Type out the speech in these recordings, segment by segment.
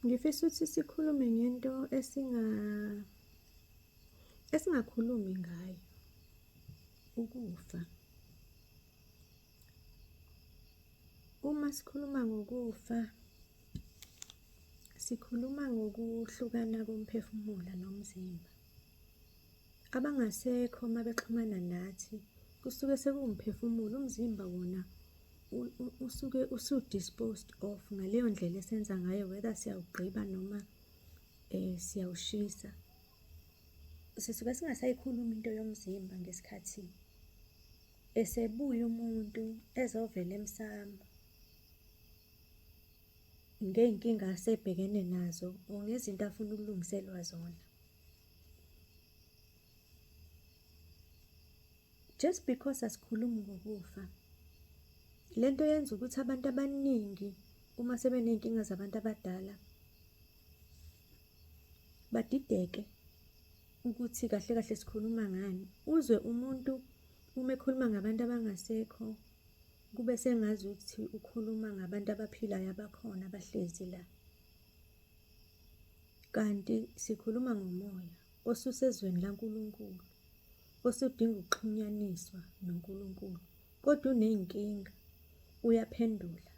Ngifisa ukuthi sikhulume ngento esinga esingakhulumi ngayo ukufa. Uma sikhuluma ngokufa sikhuluma ngokuhlukana komphefumulo nomzimba. Abangasekho uma bexhumana nathi kusuke sekuwumphefumulo, umzimba wona usuke usu-disposed of ngaleyo ndlela esenza ngayo whether siyawugqiba noma um siyawushisa. Sisuke singasayikhulumi into yomzimba ngesikhathi esebuya umuntu ezovela emsamo ngey'nkinga asebhekene nazo or ngezinto afuna ukulungiselwa zona. just because asikhulumi ngokufa le nto yenza ukuthi abantu abaningi uma sebeney'nkinga zabantu abadala badideke ukuthi kahle kahle sikhuluma ngani uzwe umuntu uma ekhuluma ngabantu abangasekho kube sengazi ukuthi ukhuluma ngabantu abaphilayo abakhona abahlezi la Kanti sikhuluma ngomoya osusezweni laNkulunkulu, osudinga ukuxhunyaniswa noNkulunkulu, kodwa uney'nkinga, uyaphendula,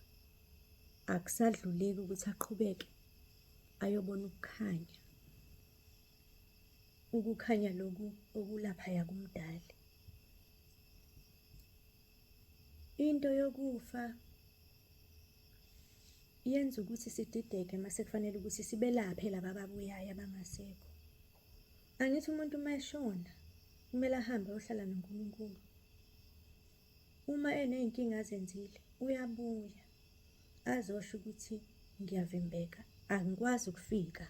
akusadluleki ukuthi aqhubeke ayobona ukukhanya. Ukukhanya loku okulaphaya kumdali. Into yokufa yenza ukuthi sidideke uma sekufanele ukuthi sibelaphe laba ababuyayo abangasekho. Angithi umuntu uma eshona kumele ahambe ayohlala noNkulunkulu. Uma eney'nkinga azenzile uyabuya azosho ukuthi ngiyavimbeka angikwazi ukufika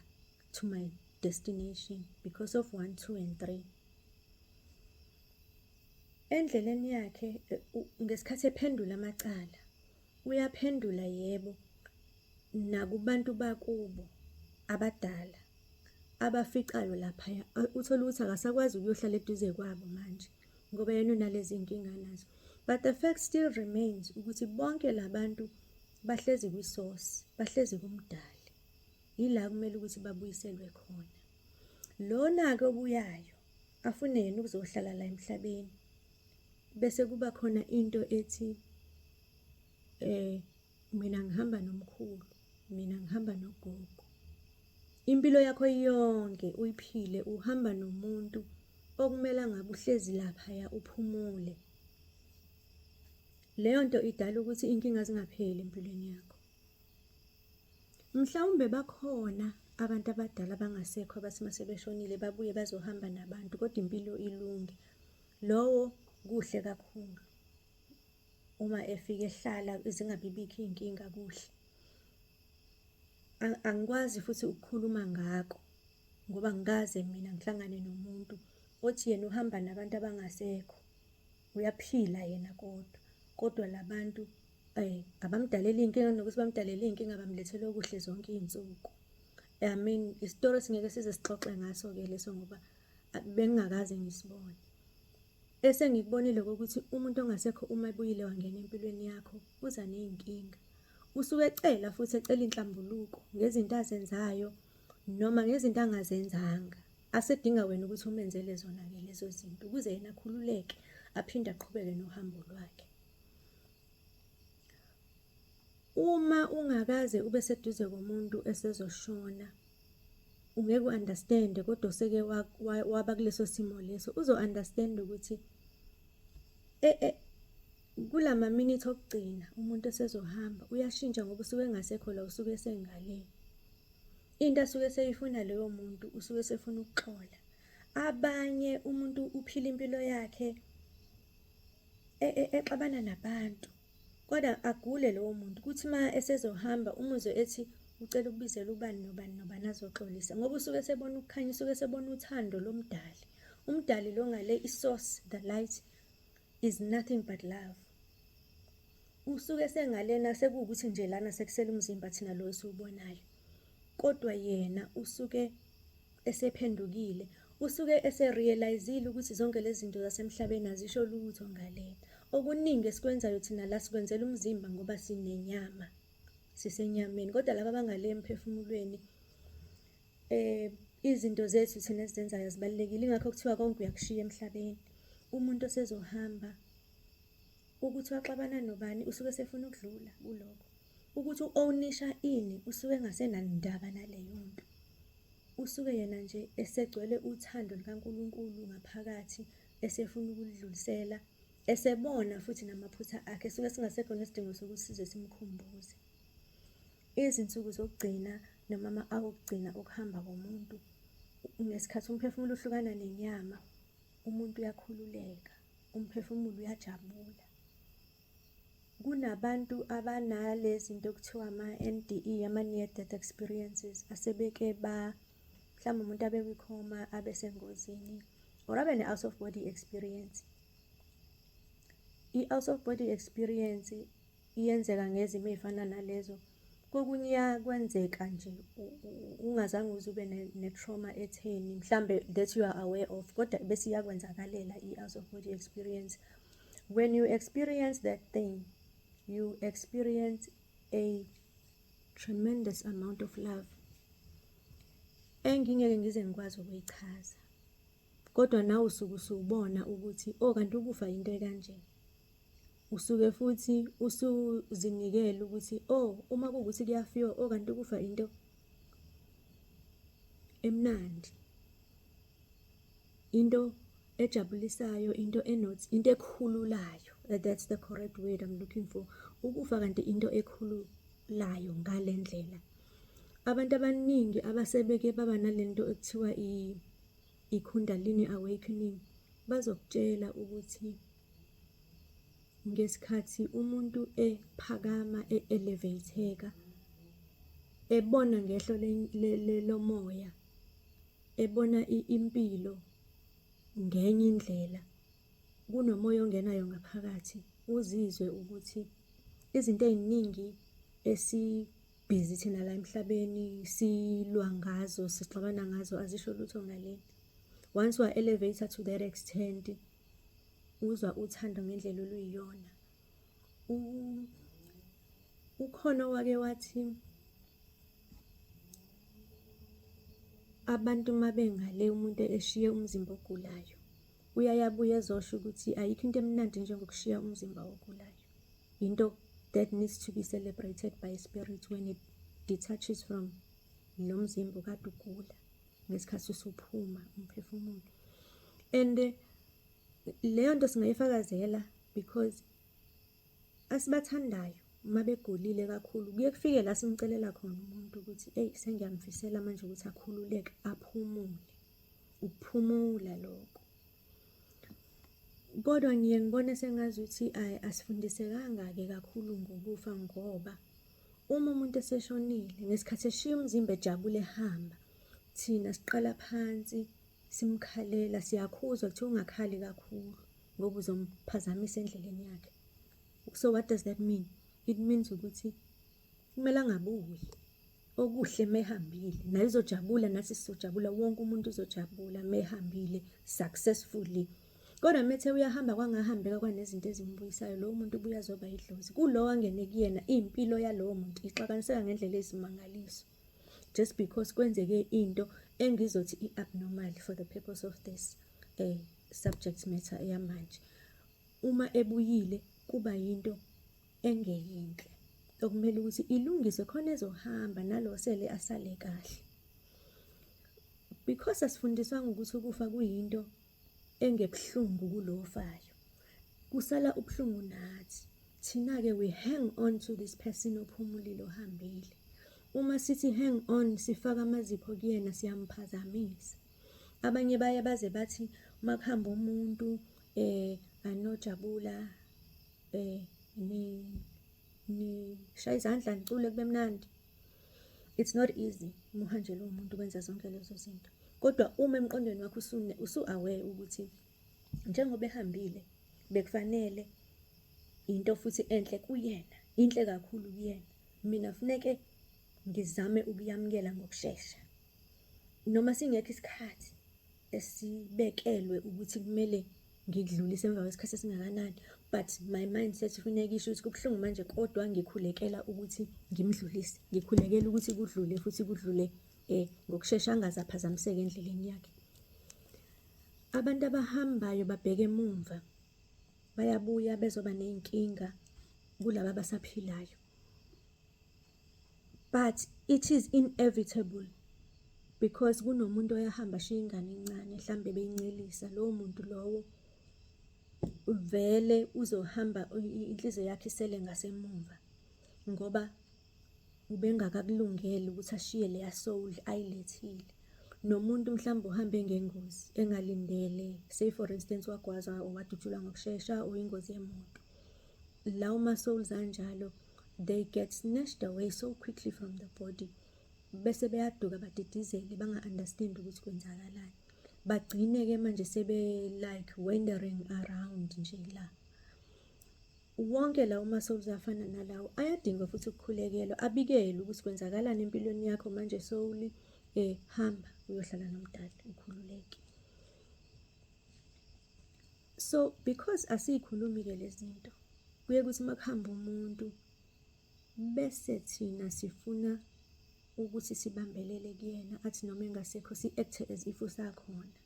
to my destination because of one, two and three. Endleleni yakhe ngesikhathi ephendula amacala Uyaphendula yebo nakubantu bakubo abadala abaficayo laphaya uthole ukuthi akasakwazi ukuyohlala eduze kwabo manje ngoba yena unalezi nkinga nazo but the fact still remains ukuthi bonke labantu bahlezi kwisource bahlezi kumdali yila kumele ukuthi babuyiselwe khona lona ke obuyayo afune yena ukuzohlala la emhlabeni Bese kuba khona into ethi eh mina ngihamba nomkhulu, mina ngihamba nogogo. Impilo yakho yonke uyiphile uhamba nomuntu okumele ngabe uhlezi laphaya uphumule. Leyo nto idala ukuthi inkinga zingapheli empilweni yakho. Mhlawumbe bakhona abantu abadala abangasekho abathi uma sebeshonile babuye bazohamba nabantu kodwa impilo ilunge. Lowo kuhle kakhulu uma efike ehlala zingabibikho iy'nkinga kuhle. Angikwazi futhi ukukhuluma ngako ngoba ngikaze mina ngihlangane nomuntu othi yena uhamba nabantu abangasekho, uyaphila yena kodwa. Kodwa la bantu abamdalela iy'nkinga kunokuthi bamdalela iy'nkinga bamlethela okuhle zonke iy'nsuku. I mean isitori singeke size sixoxe ngaso ke leso ngoba bengingakaze ngisibone. Esengikubonile ukuthi umuntu ongasekho uma ebuyile wangena empilweni yakho uza nezinkinga. Usuke ecela futhi ecela inhlambuluko ngezinto azenzayo noma ngezinto angazenzanga. Asedinga wena ukuthi umenzele zona ke lezo zinto ukuze yena akhululeke aphinde aqhubeke nohambo lwakhe. Uma ungakaze ube seduze komuntu esezoshona ungeke u-understand kodwa useke waba kuleso simo leso uzo-understand ukuthi e, e, kula maminithi okugcina umuntu esezohamba uyashintsha ngoba usuke engasekho la usuke esengale into asuke eseyifuna leyo muntu usuke esefuna ukuxola abanye umuntu uphila impilo yakhe e, exabana nabantu Kodwa agule lowo muntu kuthi uma esezohamba umuzwe ethi ucela ukubizela ubani nobani nobani azoxolisa ngoba usuke esebona ukukhanya usuke esebona uthando lomdali umdali lo ngale isource the light is nothing but love usuke sengalena sekuwukuthi nje lana sekusela umzimba thina lo esiwubonayo kodwa yena usuke esephendukile usuke eserealizile ukuthi zonke lezi zinto zasemhlabeni azisho lutho ngale okuningi esikwenzayo thina la sikwenzela umzimba ngoba sinenyama sisenyameni kodwa laba abangale emphefumulweni eh izinto zethu thina esizenzayo zibalekile ingakho kuthiwa konke uyakushiya emhlabeni umuntu osezohamba ukuthi waxabana nobani usuke sefuna ukudlula kuloko ukuthi u-ownisha ini usuke engasenandaba naleyo nto. Usuke yena nje esegcwele uthando lukaNkulunkulu ngaphakathi esefuna ukulidlulisela, esebona futhi namaphutha akhe esuke singasekho nesidingo sokuthi size simkhumbuze. Izinsuku zokugcina noma ama-awa okugcina okuhamba komuntu ngesikhathi umphefumulo uhlukana nenyama, umuntu uyakhululeka, umphefumulo uyajabula. Kunabantu abanale zinto okuthiwa ama-NDE, ama-near death experiences, asebeke ba mhlawumbe umuntu abe kwikhoma abe sengozini or abe ne-out of body experience. I-out of body experience iyenzeka ngezimo ey'fana nalezo kokunye kwenzeka nje ungazange uze ube ne-trauma etheni mhlambe that you are aware of kodwa bese iyakwenzakalela i-out of body experience When you experience that thing, you experience a tremendous amount of love engingeke ngize ngikwazi ukuyichaza kodwa nawe usuke usubona ukuthi o oh, kanti ukufa yinto ekanje usuke futhi usuzinikele ukuthi o oh, uma kuwukuthi kuyafiwa o oh, kanti ukufa into emnandi into ejabulisayo into enot into ekhululayo eh, that's the correct word i'm looking for ukufa kanti into ekhululayo ngale ndlela abantu abaningi abasebeke baba nalento ekuthiwa i-kundalini awakening bazokutshela ukuthi ngesikhathi umuntu ephakama e-elevatheka ebona ngehlo lomoya ebona impilo ngenye indlela. Kunomoya ongenayo ngaphakathi, uzizwe ukuthi izinto ey'ningi esibhizi thina la emhlabeni silwa ngazo, sixabana ngazo azisho lutho ngale. Once wa-elevator to that extent, uzwa uthando ngendlela oluyiyona. ukhona owake wathi abantu uma bengale umuntu eshiye umzimba ogulayo uyaye abuye ezosho ukuthi ayikho into emnandi njengokushiya umzimba ogulayo yinto that needs to be celebrated by spirit when it detaches from lo mzimba okade ugula ngesikhathi usuphuma umphefumulo and Leyo nto singayifakazela because asibathandayo uma begulile kakhulu kuye kufike la simcelela khona umuntu ukuthi eyi sengiyamfisela manje ukuthi akhululeke aphumule ukuphumula lokho kodwa ngiye ngibone sengazi ukuthi ayi asifundisekanga-ke kakhulu ngokufa ngoba uma umuntu eseshonile ngesikhathi eshiya umzimba ejabule ehamba thina siqala phansi simkhalela siyakhuzwa kuthiwa ungakhali kakhulu ngoba uzomphazamisa endleleni yakhe so what does that mean it means ukuthi kumele angabuyi okuhle mehambile naye uzojabula nathi sizojabula wonke umuntu uzojabula mehambile successfully kodwa methe uyahamba kwangahambeka kwanezinto ezimbuyisayo lowo muntu ubuya zoba idlozi kulowo angene kuyena impilo yalowo muntu ixakaniseka ngendlela ezimangalisa just because kwenzeke into engizothi i-abnormal for the purpose of this uh, subject matter yamanje uma ebuyile kuba yinto engeyinhle okumele ukuthi ilungiswe khona ezohamba nalo sele asale kahle because asifundiswanga ukuthi ukufa kuyinto engebuhlungu kulo ofayo kusala ubuhlungu nathi thina-ke we hang on to this person ophumulile ohambile uma sithi hang on sifaka amazipho kuyena siyamphazamisa abanye baye baze bathi uma kuhamba umuntu eh anojabula eh ni ni shaya izandla nicule kube mnandi It's not easy umuhanjelwe umuntu kwenza zonke lezo zinto. Kodwa uma emqondweni wakho usune usu-aware ukuthi njengoba ehambile bekufanele into futhi enhle kuyena, inhle kakhulu kuyena. Mina funeke ngizame ukuyamukela ngokushesha noma singekho isikhathi. esibekelwe ukuthi kumele ngikudlulise emva kwesikhathi esingakanani but my mindset funeka isho ukuthi kubuhlungu manje kodwa ngikhulekela ukuthi ngimdlulise ngikhulekela ukuthi kudlule futhi kudlule eh ngokushesha angaze aphazamiseke endleleni yakhe abantu abahambayo babheke emumva bayabuya bezoba nezinkinga kulabo abasaphilayo But it is inevitable because kunomuntu oyahamba ashiya ingane encane mhlambe beyincelisa lowo muntu lowo vele uzohamba inhliziyo yakhe isele ngasemuva ngoba ubengakakulungeli ukuthi ashiye leya soul ayilethile nomuntu mhlawumbe uhambe ngengozi engalindele say for instance wagwaza or wadutshulwa ngokushesha or ingozi yemoto lawo ma-souls anjalo they get snatched away so quickly from the body bese beyaduka badidizele banga-understand ukuthi kwenzakalani bagcine-ke manje sebe-like wandering around nje la wonke lawo ma-souls afana nalawo ayadinga futhi ukukhulekelwa abikelwe ukuthi kwenzakalani empilweni yakho manje sowuli um eh, hamba uyohlala nomdali ukhululeke so because asiyikhulumi ke lezinto kuye kuthi makuhamba umuntu bese thina sifuna ukuthi sibambelele kuyena athi noma engasekho si-acte as if usakhona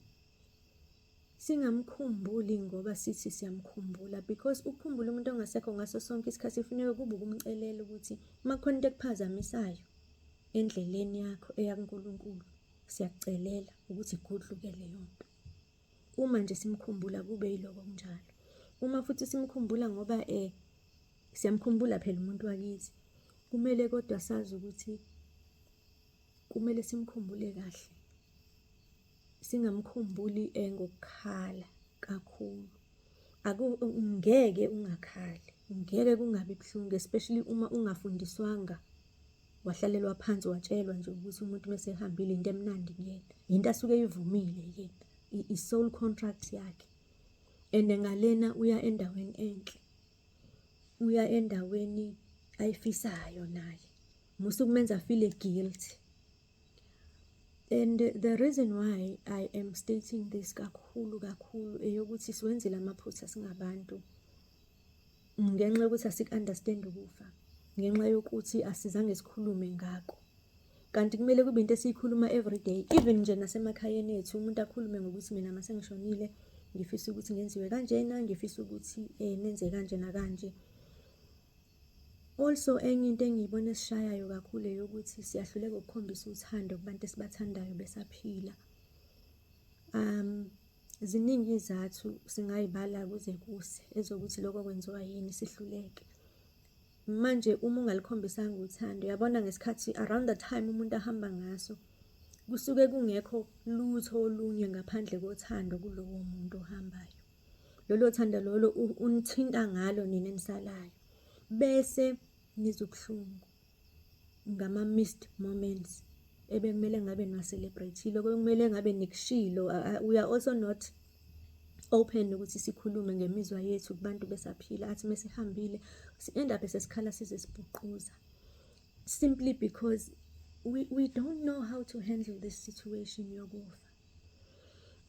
singamkhumbuli ngoba sithi siyamkhumbula because ukukhumbula umuntu ongasekho ngaso sonke isikhathi kufuneka kube ukumcelela ukuthi uma kukhona into ekuphazamisayo endleleni yakho eyakuNkulunkulu siyakucelela ukuthi igudluke leyo nto Uma nje simkhumbula kube yiloko kunjalo. Uma futhi simkhumbula ngoba eh siyamkhumbula phela umuntu wakithi. Kumele kodwa sazi ukuthi kumele simkhumbule kahle. Singamkhumbuli eh ngokukhala kakhulu. Aku ngeke ungakhali, ngeke kungabi buhlungu especially uma ungafundiswanga. Wahlalelwa phansi watshelwa nje ukuthi umuntu uma esehambile into emnandi kuyena, yinto asuke eyivumile yena, i-soul contract yakhe. And ngalena uya endaweni enhle, uya endaweni ayifisayo naye, musa ukumenza afile guilty. And the reason why I am stating this kakhulu kakhulu eyokuthi siwenzile amaphutha singabantu. ngenxa yokuthi asiku-understand ukufa ngenxa yokuthi asizange sikhulume ngako kanti kumele kube into esiyikhuluma everyday even nje nasemakhayeni ethu umuntu akhulume ngokuthi mina mase ngishonile ngifisa ukuthi ngenziwe kanjena ngifisa ukuthi eh nenze kanje nakanje also enye into engiyibona esishayayo kakhulu eyokuthi siyahluleka ukukhombisa uthando kubantu esibathandayo besaphila um Ziningi izathu singayibala kuze kuse ezokuthi lokho kwenziwa yini sihluleke. Manje uma ungalikhombisanga uthando, yabona ngesikhathi around the time umuntu ahamba ngaso kusuke kungekho lutho olunye ngaphandle kothando kulowo muntu ohambayo. Lolo thando lolo unithinta ngalo nina enisalayo bese nizobuhlungu. ngama-missed moments ebekumele ngabe niwa-celebrate-ile, obekumele ngabe nikushilo. We are also not open ukuthi sikhulume ngemizwa yethu kubantu besaphila, athi mesihambile si-end up sesikhala size sibhuquza simply because we, we don't know how to handle this situation yokufa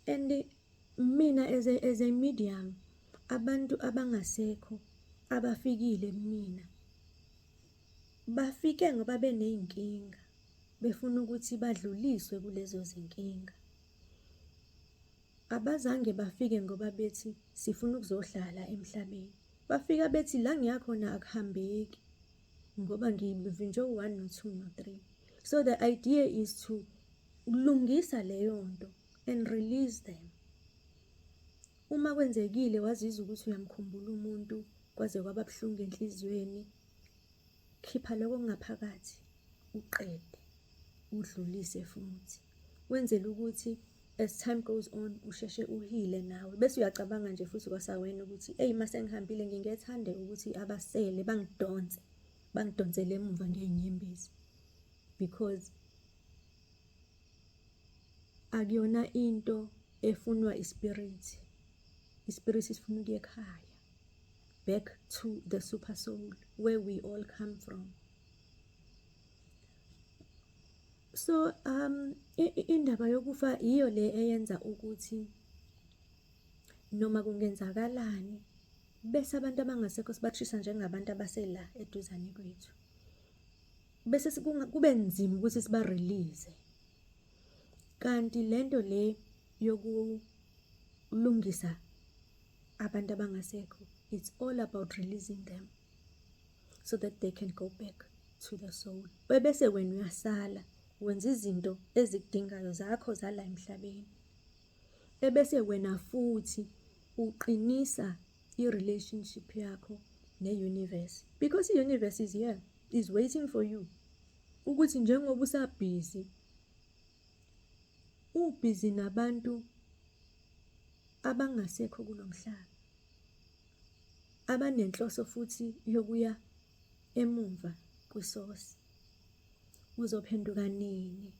and mina as a, as a medium abantu abangasekho abafikile kumina Bafike ngoba beney'nkinga, befuna ukuthi badluliswe kulezo zinkinga. Abazange bafike ngoba bethi sifuna ukuzohlala emhlabeni. Bafika bethi la ngiya khona akuhambeki ngoba ngivinjwe u-one no-two no-three. So the idea is to lungisa leyo nto and release them. Uma kwenzekile wazizwa ukuthi uyamkhumbula umuntu kwaze kwaba buhlungu enhliziyweni, khipha lokho kungaphakathi uqede udlulise futhi wenzele ukuthi as time goes on usheshe uhile nawe bese uyacabanga nje futhi kwasawena ukuthi eyi uma sengihambile ngingethande ukuthi abasele bangidonse bangidonsele emuva ngey'nyembezi because akuyona into efunwa ispirit ispirit sifuna ukuye ekhaya back to the super soul where we all come from so um indaba yokufa yiyo le eyenza ukuthi noma kungenzakalani bese abantu abangasekho sibathisa njengabantu abasela eduzane kwethu bese kube nzima ukuthi siba release kanti lento le yokulungisa abantu abangasekho it's all about releasing them so that they can go back to the soul bese wena uyasala wenza izinto ezikudingayo zakho zala emhlabeni ebese wena futhi uqinisa i-relationship yakho ne-universe because i-universe is here is waiting for you ukuthi njengoba usabhizi ubhizi nabantu abangasekho kulo mhlaba abanenhloso futhi yokuya emumva kwisosi. Uzophenduka nini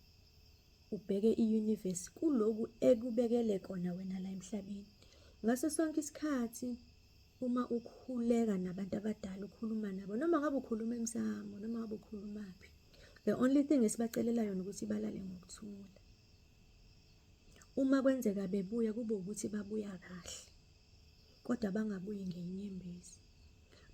ubheke i-universe kuloku ekubekele kona wena la emhlabeni? Ngaso sonke isikhathi uma ukhuleka nabantu abadala ukhuluma nabo noma ngabe ukhuluma emsamo noma ngabe ukhulumaphi the only thing esibacelela yona ukuthi balale ngokuthula uma kwenzeka bebuya kube ukuthi babuya kahle kodwa bangabuyi ngenyembezi.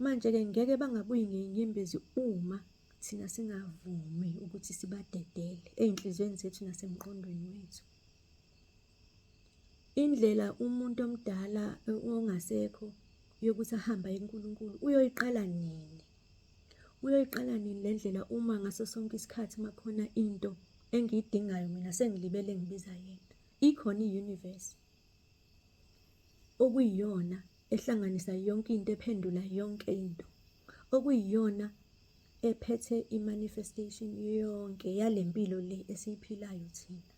Manje-ke ngeke bangabuyi ngenyembezi uma thina singavumi ukuthi sibadedele ey'nhliziyweni zethu nasemqondweni wethu. Indlela umuntu omdala ongasekho yokuthi ahambe aye kuNkulunkulu uyoyiqala nini? Uyoyiqala nini le ndlela uma ngaso sonke isikhathi uma khona into engiyidingayo mina sengilibele ngibiza yena? Ikhona i-universe. okuyiyona ehlanganisa yonke into ephendula yonke into okuyiyona ephethe i-manifestation yonke yale mpilo le esiyiphilayo thina.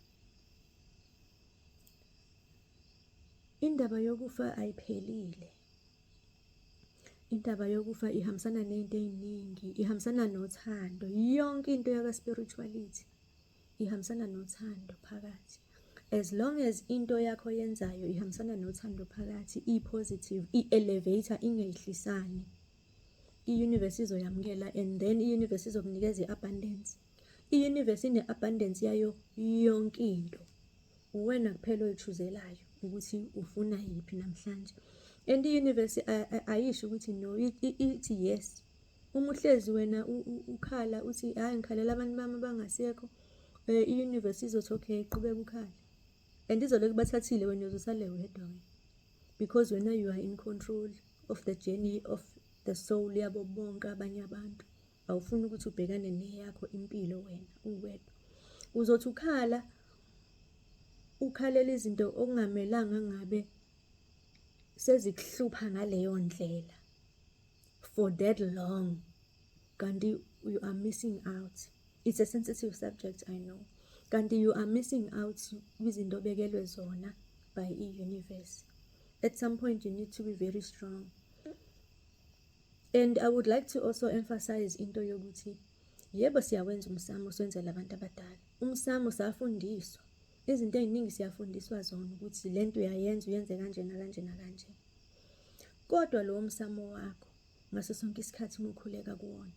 Indaba yokufa ayiphelile. Indaba yokufa ihambisana ney'nto ey'ningi, ihambisana nothando, yonke into yaka-spirituality ihambisana nothando phakathi as long as into yakho yenzayo ihambisana nothando phakathi i-positive i-elevator ingehlisani i-universe izoyamukela and then i-universe izokunikeza i-abundance i-universe ine-abundance yayo yonke into uwena kuphela oyichuzelayo ukuthi ufuna yiphi namhlanje and i-universe ayisho ukuthi no ithi yes Uma uhlezi wena ukhala uthi hayi ngikhalela abantu bami abangasekho eh, i-universe izothi okay qhubeka ukhale and izolokhu bathathile wena uzosale wedwa wena because wena you are in control of the journey of the soul yabo bonke abanye abantu awufuni ukuthi ubhekane neyakho impilo wena uwedwa uzothi ukhala ukhalela izinto okungamelanga ngabe sezikuhlupha ngaleyo ndlela for that long kanti you are missing out it's a sensitive subject i know kanti you are missing out kwizinto obekelwe zona by i-universe at some point you need to be very strong and i would like to also emphasize into yokuthi yebo siyawenza umsamo siwenzela abantu abadala umsamo safundiswa izinto eziningi siyafundiswa zona ukuthi lento uyayenza uyenze kanje nakanje nakanje Kodwa lowo msamo wakho ngaso sonke isikhathi uma ukhuleka kuwona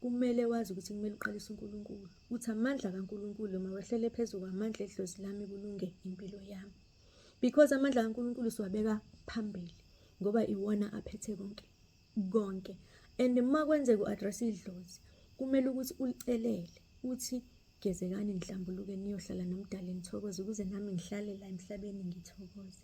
kumele wazi ukuthi kumele uqalise uNkulunkulu uthi amandla kaNkulunkulu mawehlele phezu kwamandla edlozi lami kulunge impilo yami because amandla kaNkulunkulu siwabeka phambili ngoba iwona aphethe konke konke and uma kwenzeka u-address idlozi kumele ukuthi ulicelele uthi Gezekani nihlambuluke niyohlala nomdali nithokoze ukuze nami ngihlale la emhlabeni ngithokoze.